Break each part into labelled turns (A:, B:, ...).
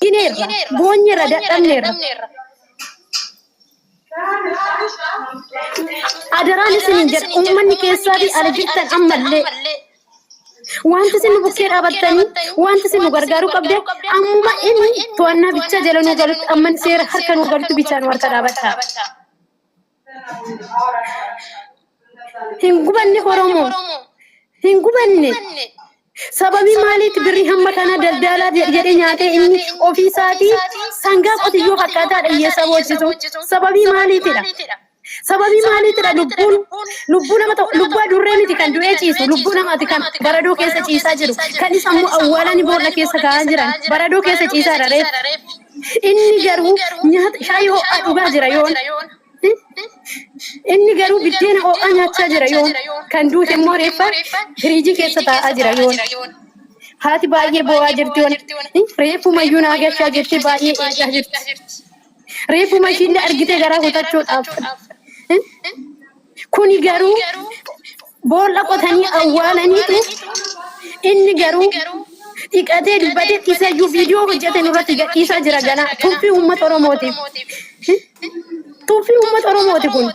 A: Jineerra, boonyeerra, dadhabneerra. Adaraan isiniin jedha uummanni keessaa fi ala jirtan ammallee wanti isin nu bukkee dhaabattanii wanti isin nu gargaaruu qabdan ammuma inni to'annaa bichaa jala nu galutti amman seera harka nu galutti bichaa nu harka dhaabadha. Hin gubanne Oromoo. Hin gubanne. Sababii maaliitti birrii hamma kana daldaalaa jedhee nyaatee inni ofii isaatii sangaa qotiyyoo fakkaataa dhiyyeessaa boochisu. Sababii maaliitidha? Sababii maaliitidha lubbuun lubbuu nama tokko lubbuu adurree miti kan du'ee ciisu lubbuu namaati kan baradoo keessa ciisaa jiru kan isa immoo awwaalanii boolla keessa kaa'aa jiran baradoo keessa ciisaa dha reef. Inni garuu nyaata shaayii ho'aa dhugaa jira yoon. Inni garuu biddeena ho'aa nyaachaa jira yoon. Kan duute immoo reeffa firiijii keessa taa'aa jira yoon. Haati baay'ee boo'aa jirti yoon. Reeffuma iyyuu naa gashaa jettee baay'ee eegaa jirti. Reeffuma ishiillee argitee garaa kutachuudhaaf. Kuni garuu boolla qotanii awwaalaniitu inni garuu dhiqatee dubbate isayyuu viidiyoo hojjete nurratti gadhiisaa jira ganaa tuffii uummata Oromootiif. Tuffii uummata Oromooti kun.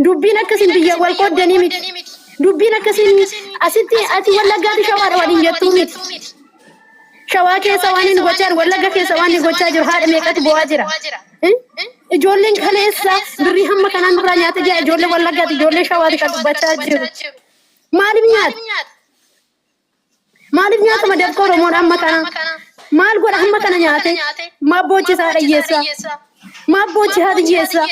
A: Dubbiin akkasiin biyya wal qooddanii miti. Dubbiin akkasiin asitti ati wallaggaati shawaadha waliin jettuu miti. Shawaa keessa waan inni gochaa jiru, Wallagga keessa waan inni gochaa jiru haadha meeqatu bo'aa jira. Ijoolleen kaleessa birrii hamma kanaa nurraa nyaate jira ijoollee Wallaggaati, ijoollee Shawaati kan dubbachaa jiru. Maaliif nyaata? Maaliif nyaata madabka Oromoon amma kana? Maal godha hamma kana nyaate? Maaf boochisa haadha hiyyeessa? Maaf boochi haati hiyyeessa?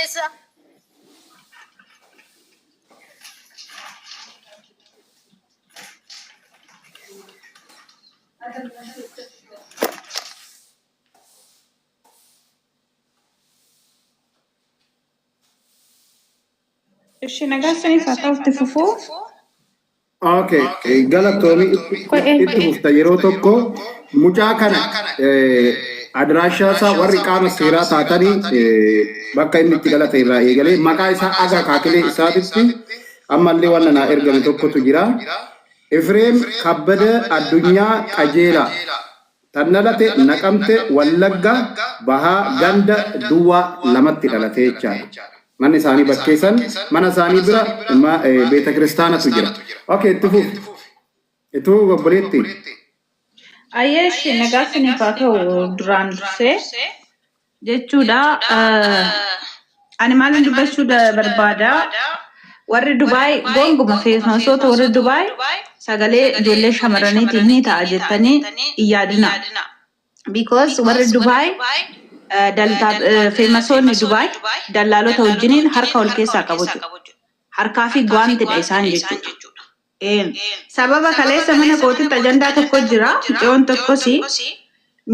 B: Ishi nagaa sanii faataa itti fufuu.
C: Okay, eh, galatoomi Qo'ee. itti fufta yeroo tokko mucaa kana eh, adiraashaa isaa warri qaama seeraa taatanii eh, bakka inni itti dhalate irraa eegalee maqaa isaa aga kaakilee isaatitti Ammallee wanna naa ergame tokkotu jira. Efreem Kabbada Addunyaa Qajeelaa. Tan dhalate Naqamte Wallagga Bahaa Ganda Duwwaa lamatti dhalate jechaadha. Manni isaanii bakkee san mana isaanii bira beetakiristaanatu jira. Ok itti fufi. Ituu obboleetti.
B: Ayyeeshi nagaa siniif haa ta'u duraan dursee jechuudha. Ani maalin dubbachuu barbaada warri Dubaay gonguma feesmasoota warri Dubaay sagalee ijoollee shamarraniitiin ni ta'a jettanii hin yaadina. Because warri Dubaay feemasoonni Dubaay dallaalota wajjiniin harka wal keessaa qabu jechuudha. Harkaa fi gwaantidha isaan jechuudha. Een. Sababa kaleessa mana kootitti ajandaa tokko jira, mucayoon tokkos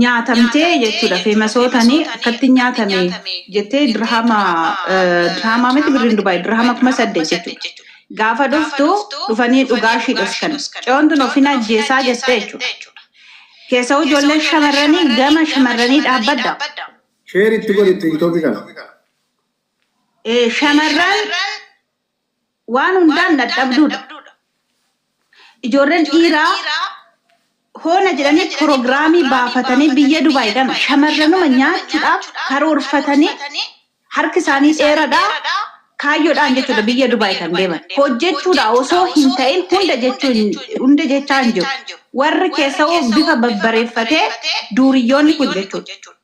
B: nyaatamtee jechuudha feemasootani akkatti nyaatame jettee dirhama dirhama miti birriin dubaay dirhama kuma saddeet jechuudha. Gaafa dhuftu dhufanii dhugaa ishii dhoskan. Mucayoon tun ofin ajjeesaa jettee jechuudha. Keessa'uu ijoolleen shamarranii gama shamarranii dhaabbadda. Share itti
C: godhi tiktoki kana. Ee
B: shamarran waan hundaan dadhabduudha. Ijoolleen dhiiraa hoona jedhanii pirogiraamii baafatanii biyya Dubaay kana shamarranuma nyaachuudhaaf karoorfatanii harki isaanii dheeradha kaayyoodhaan jechuudha biyya Dubaay kan deeman. Hojjechuudha osoo hin ta'in hunda jechuu hin- hunda jechaa hin jiru. Warri keessawoo bifa babbareeffatee duuriyyoonni kun jechuudha.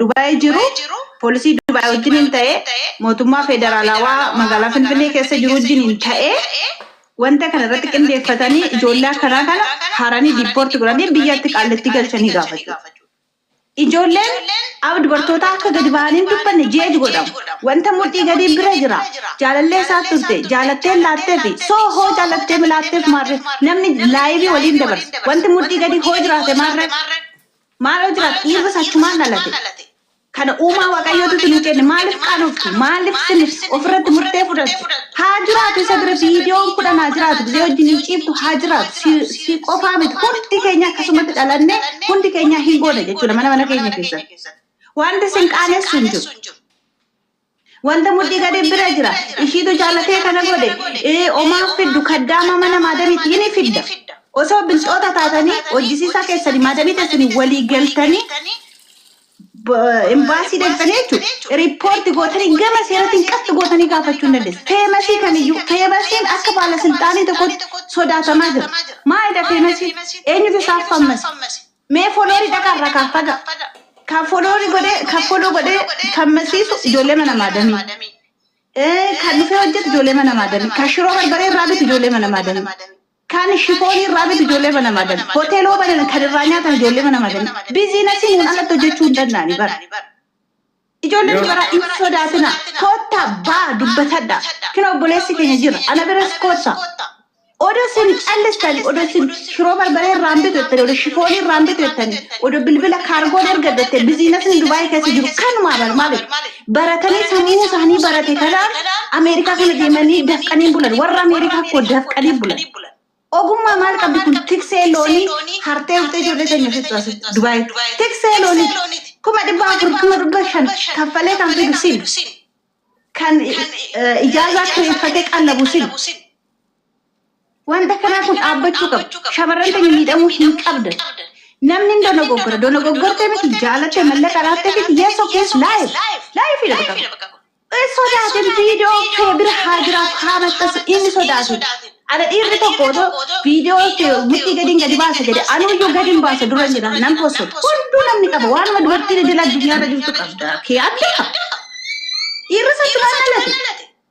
B: Dubaayii jiru poolisii Dubaayii wajjiniin ta'e mootummaa federaalawaa magaalaa Finfinnee keessa jiru wajjiniin ta'e wanta kana irratti qindeeffatanii ijoollee akkanaa kana haranii diippoorti godhanii biyyatti qaallattii galchanii gaafachuu. Ijoolleen ab dubartootaa akka gadi bahanii hin dubbanne jeej godhamu. Wanta mudhii gadii bira jira. Jaalallee isaat turte. Jaalatteen laatteefi. So hoo jaalatteem laatteef maarree namni laayivii waliin dabarsa. Wanti mudhii gadii hoo jiraate maarree? Maal hoo jiraate? Dhiirris achumaan dhalate. Kana uumaa Waaqayyootutu nuu kenne. Maaliif qaanoftu? Maaliif sin ofirratti murtee fudhattu? haa jiraatu isa bira viidiyoon kudhan haa jiraatu gizee wajjin hin ciiftu haa jiraatu si, si qofaa miti hundi keenya akkasumatti dhalanne hundi keenya hin goone jechuudha mana mana keenya keessatti wanti sin qaanessu hin jiru wanta mudhii gadi bira jira ishiitu jaalatee kana godhe ee omaa fiddu kaddaama mana maadamiitti hini fidda osoo bilxoota taatanii hojjisiisaa keessanii maadamii keessanii walii galtanii Imbaasii deemtanii jechuudha. Riippoorti gootanii gama seeratiin qatti gootanii gaafachuu hin dandeessu. Feemasii kamiyyuu feemasiin akka baala silxaanii tokkotti sodaatamaa jira. Maalidha feemasiin? Eenyutu isaaf fammasi? Mee foloorii dhaqaa irraa kaafadha. Kan foloorii godhee kan foloo godhee fammasiisu ijoollee mana maadamii. Kan dhufee hojjetu ijoollee mana maadamii. Kan shiroo barbaree irraa bitu ijoollee mana maadamii. Kan shifoonii irraa bitu ijoollee mana madami. Hoteeloo banan kan irraa nyaatan ijoollee mana madami. Biziinasii nuun alatti hojjechuu hin danda'ani bara. Ijoolleen Yoo- dubaraa hin sodaatina. Kootta baa dubbatadha. Kina obboleessi keenya jira. Ana biras kootta. Odoo isin callistani, odoo isin shiroo barbaree irraa hin bitu jettani, odoo shifoonii irraa hin bitu jettani, odoo bilbila kaargoon ergadhu jettee biziinasni Dubaayii keessa jiru kanumaa bar maaliif? baratanii sammuu isaanii barate kanaan Ameerikaa kana deemanii dafqanii bulan warra Ameerikaa koo dafqanii bulan. Ogummaa maal qabdi kun tiksee loonii hartee uftee ijoollee teenya fixu as Dubaay tiksee loonii kuma dhibba afur kuma dhibba shan kaffalee kan fidu sin kan ijaazaa kireeffatee qallabu sin Wanta kanaa kun dhaabbachuu qaba. Shamarran keenya miidhamuu hin qabdan. Namni hin dogoggora. Dogoggortee miti jaalattee mallaqa laattee miti yes okay is life. Life dha bakka kun. Hin sodaatin viidiyoo kee bira haa jiraatu haa maxxansu inni sodaatin. Ana dhiirri tokko otoo viidiyoo kee mudhii gadiin gadi baasa jedhe anuuyyuu gadin baasa dura hin jedha nan postu. Hunduu namni qaba waanuma dubartiin idil addunyaarra jirtu qabda. Kee adda qaba. Dhiirri sattumaan dhalate.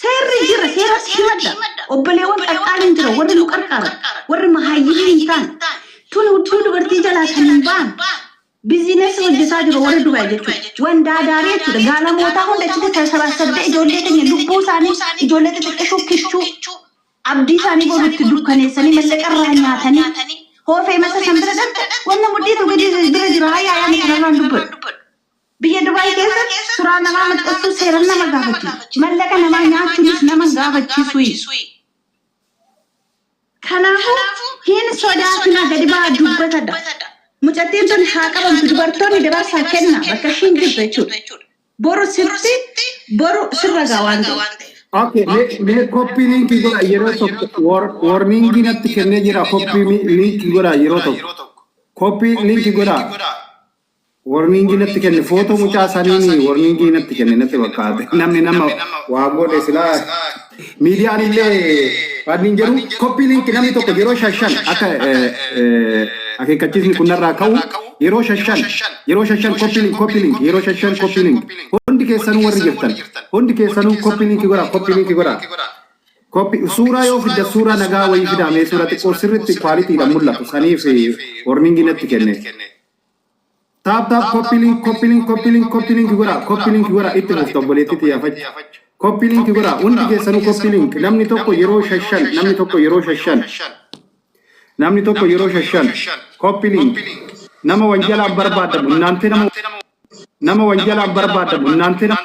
B: Seerri jira, seeratti himadha. Obboleewwan qarqaariin jira, warri nu qarqaaran, warri mahaayyimii hin taane. Tun hudduu dubartii jalaa kan hin baan. Biziinessa hojjetaa jiru warri Dubaay jechuudha. Waan daadaarii jechuudha. Gaalamootaa hunda achitti sassabaassabdee ijoollee keenya lubbuu isaanii ijoollee xixiqqashuu kichuu abdii isaanii boru itti dukkaneessanii mallaqa irraa nyaatanii hoofee masa san bira dhabda wanna mudhiitu gadi bira jira haa yaayaan kanarraan dubbadhu. Biyya Dubaay keessa suraa namaa maxxansuu seeran nama gaafachisa. Mallaqa namaa nyaachunis nama hin gaafachisui. Kanaafu hin sodaatina gadi baha dubbadha. Mucattiin tun haa qabamtu dubartoonni dabarsaa kenna bakka ishiin jirtu jechuudha. Boru sitti boru sirra gaha waan ta'eef. Ok me me
C: copy link godha yeroo tokko war warning natti kennee jira copy mi- link godha yeroo tokko copy link godha warningi natti kenne footoo mucaa saniin warningi natti kenne natti fakkaate namni nama waa godhe silaa miidiyaan illee wannin jedhu koppii liinki namni tokko yeroo shashan akka akeekkachiisni kun narraa ka'u yeroo shashan yeroo shashan koppii liinki koppii liinki yeroo shashan koppii liinki hundi keessanuu warri jirtan hundi keessanuu koppii liinki godhaa koppii liinki godhaa Koppi suuraa yoo fidda suuraa nagaa wayii fidaamee suuraa xiqqoo sirriitti kwaalitiidhaan mul'atu saniif warningi natti kenne. Taap taap koppii link koppii link koppii link koppii link godhaa koppii link godhaa itti fufta obboleettii xiyyaafachuu koppii link godhaa hundi keessanuu koppii link namni tokko yeroo shashan namni tokko yeroo shashan namni tokko yeroo shashan koppii link nama wanjalaan barbaadamu innaantee nama nama wanjalaan barbaadamu innaantee nama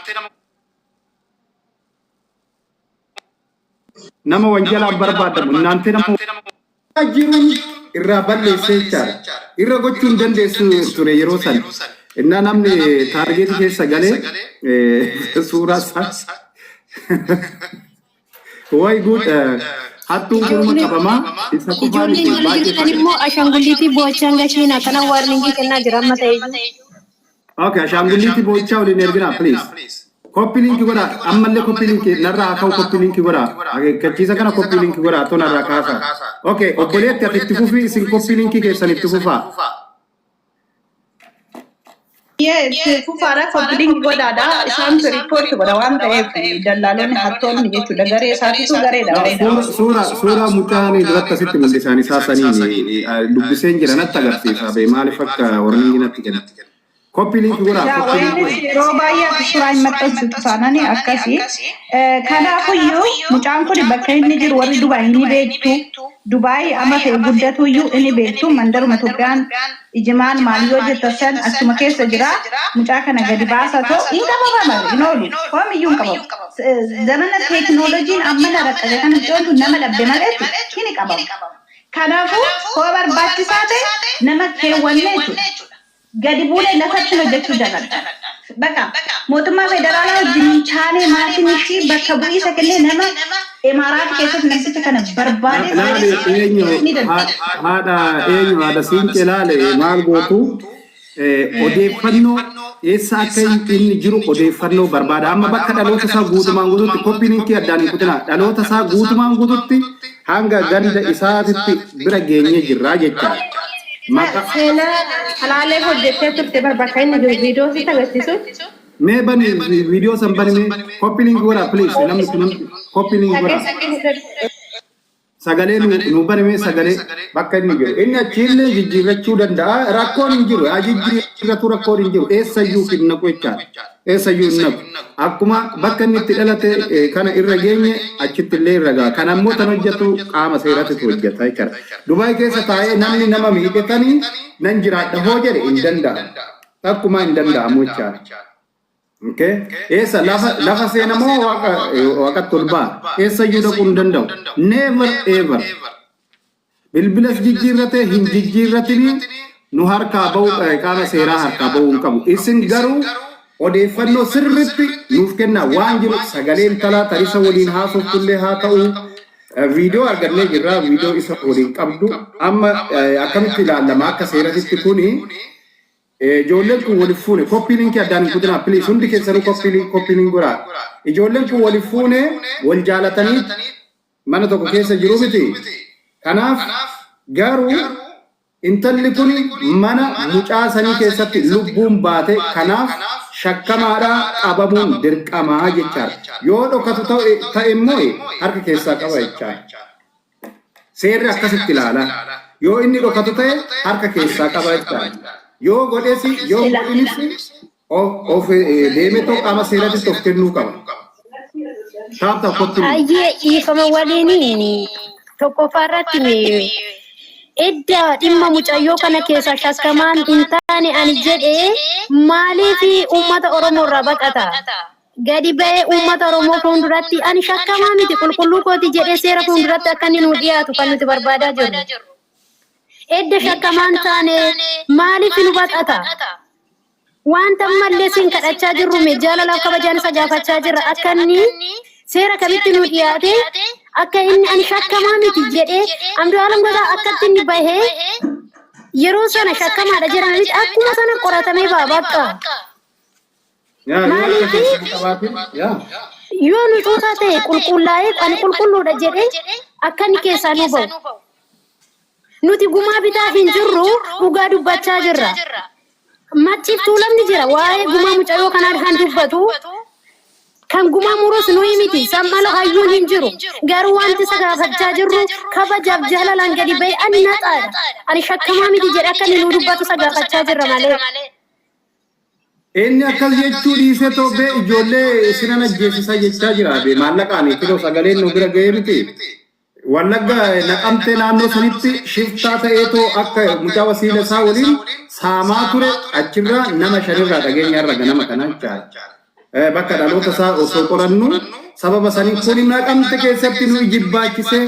C: nama wanjalaan barbaadamu innaan tena mootummaa jiruun irraa balleessee jechaadha. Irra gochuu hin dandeessu ture yeroo san. Innaa namni taargeetii keessa galee suuraa isaa way good hattuun kunuma qabamaa isa qofaa Ijoolleen miti warri baay'ee jirtan
A: fayya. immoo ashangulliitii boochaan gashiin akkana waarningii kennaa jira amma ta'e iyyuu. Okay,
C: ashaangulliitii boo'ichaa waliin erginaa please. Koppii liinkii godhaa ammallee koppii liinkii narraa haa ka'u koppii liinkii godhaa akeekkachiisa kana koppii liinkii godhaa too narraa kaasaa. Okay, obboleetti ati itti fufii isin koppii liinkii keessan itti fufaa. Yes, fufaadha
B: koppiliin godhaadha. Isaan riippoorti godha waan ta'eef dallaalonni hattoonni jechuudha. Garee isaatiitu gareedha. No, Gareedha. suura suura suura
C: mucaan duratti asitti mul'isaan isaa saniin eh, dubbiseen jira natti agarsiisa bee maaliif akka warningi natti jalatti kenna. Koppii liinki godhaa. Yaa Koppii liinki waynis godhaa. yeroo
B: baay'ee ati suuraa hin maxxansu taanani akkasi. Eh, Kanaafuyyuu mucaan kun bakka inni jiru warri Dubaay ni beektu. Dubaay amma ta'e guddatuyyuu inni beektu mandaruma Itoophiyaan ijimaan maal yoo jettan san achuma keessa jira. Mucaa kana gadi baasaa ta'u hin qabama malu hin oolu. Homiyyuu hin qabamu. Eh, Zamana teekinooloojiin ammana raqqabe kana mucoon tun nama dhabde maleetti hin qabamu. Kanaafuu, hoo barbaachisaa ta'e nama keewwanne jechuudha. Gadi buunee lafatti hojjechuu jaladha. Baqa, mootummaa federaalaa wajjin hin taanee maatiin ishii bakka bu'iisa kennee nama Emaaraat keessatti namticha kana barbaadee Nama maaliif beektu eenyu? ni danda'a. Haadha
C: eenyu? Haadha Siinqee laale maal gootu? Odeeffannoo, Eessa akka inni jiru odeeffannoo barbaada. Amma bakka dhaloota isaa guutumaan guututti, copy linkii addaan hin kutinaa, dhaloota isaa guutumaan guututti hanga ganda isaatitti bira geenyee jirra jecha. Maqaa. Seenaa
A: Salaalee hojjettee turte bar bakka inni jiru video sitti
C: agarsiisu. Mee bani video san bani mee. Copy link godhaa please namni kun namni copy link godhaa. Dhageessifadhu. sagalee nu nu banamee sagalee bakka inni jiru inni achiillee jijjiirrachuu danda'a rakkoon hin jiru haa jijjiirratu rakkoon hin jiru eessayyuu hin naqu jechaadha eessayyuu hin naqu akkuma bakka inni itti dhalate eh, kana irra geenye achitti illee irra ga'a kan ammoo tan hojjetu qaama seeratitu hojjeta jechaadha dubaay keessa taa'ee namni nama miidhetanii nan jiraadha hoo jedhe hin danda'amu takkumaa hin danda'amu jechaadha Okay. Eessa lafa lafa seena moo waaqa waaqatti ol ba'a? Eessa iyyuu dhaquu hin danda'u. Never ever. Bilbilas jijjiirratee hin jijjiirratinii nu harkaa ba'u qaama seeraa harkaa ba'uu hin qabu. Isin garuu odeeffannoo sirriitti nuuf kennaa waan jiru sagalee intalaa tarisa waliin haasofnullee haa ta'u viidiyoo argannee jirra viidiyoo isa waliin qabdu amma akkamitti ilaallama akka seeratitti kuni Ijoolleen kun wal hin fuune copy link addaan hin kutinaa please hundi keessanuu copy link copy link godhaa ijoolleen kun wal hin fuune wal jaalatanii mana tokko keessa jiru miti kanaaf garuu intalli kun mana mucaa sanii keessatti lubbuun baate kanaaf shakkamaadhaa qabamuun dirqamaa jechaadha yoo dhokatu ta'e immoo harka keessaa qaba jechaadha Seerri akkasitti ilaala. Yoo inni dhokatu ta'e harka keessaa qaba jechaan. Yoo godhes yoo hin godhinis of deemetoo qaama seeratitti of kennuu qaba. Taaptaa kottu. Ayyee dhiifama
A: waliin tokkoffaa irratti edda dhimma mucayyoo kana keessa shakkamaan hin taane ani jedhe maaliif uummata Oromoo irraa baqata? gadi ba'ee uummata Oromoo fuulduratti ani shakkamaa miti qulqulluu kooti jedhee seera fuulduratti akka inni nuu dhiyaatu kan nuti barbaadaa jirru. Edda shakkamaan taane maaliif nu baqata? Wanta ammallee siin kadhachaa jirru mee jaalalaaf kabajaan isa gaafachaa jirra akka inni seera kamitti nuu dhiyaate akka inni ani shakkamaa miti jedhee Andu'aalam Godaa akkatti inni bahee yeroo sana shakkamaadha jedhanitti akkuma sana qoratamee ba'a bakka. Yaa yoo Maaliif? akka keessan qabaatin yaa Yoo nu xuuxaa ta'e qulqullaa'eef ani qulqulluudha jedhee akka inni keessaa nu ba'u. Nuti gumaa bitaa hin jirru dhugaa dubbachaa jirra. Macciif tuulamni jira waa'ee gumaa mucayyoo kanaa kan dubbatu kan gumaa murus nuyi miti sam'ala hayyuun hin jiru garuu wanti isa gaafachaa jirru kabajaaf jaalalaan gadi ba'e ani naxaadha ani shakkamaa miti jedhe akka inni nu dubbatu isa gaafachaa jirra malee.
C: Inni akkas jechuu dhiisee tobbee ijoollee isinan ajjeesisa jechaa jira. Be maallaqaan kunoo sagaleen nu bira ga'ee miti. Wallagga naqamtee naannoo sanitti shiftaa ta'eetoo akka mucaa wasiila isaa waliin saamaa ture achirraa nama shanirraa dhageenya irra ganama kana jechaadha. Bakka dhaloota isaa osoo qorannu sababa sanii kun naqamte keessatti nu ijibbaachise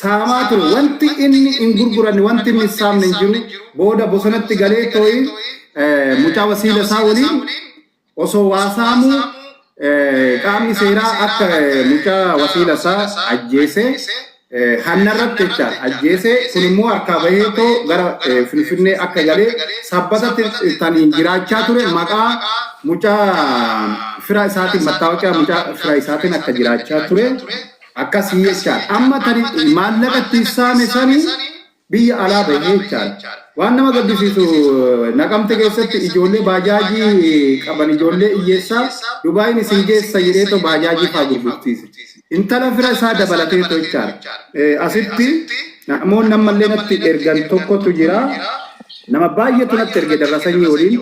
C: saamaa ture. Wanti inni hin gurguranne, wanti inni hin saamne hin jiru. Booda bosonatti galee tooyi mucaa wasiila isaa waliin osoo waa saamuu qaamni seeraa akka mucaa wasiila isaa ajjeesee hannarratti jecha ajjeesee kun immoo harkaa bahee too gara Finfinnee akka galee sabbatatti kan jiraachaa ture maqaa mucaa fira isaatiin mattaawoqiyaa mucaa fira isaatiin akka jiraachaa ture. Akkasii jechaadha. Amma tani maallaqa ittiin saame sani biyya alaa bahe jechaadha. Waan nama gaddisiisu naqamte keessatti ijoollee baajaajii qaban ijoollee iyyeessaa Dubaayin isin geessa jedheetoo baajaajii faa gurgursiise. Intala fira isaa dabalateetoo jechaadha. Asitti namoonni ammallee natti ergan tokkotu jira. Nama baay'eetu natti erge darrasanyii waliin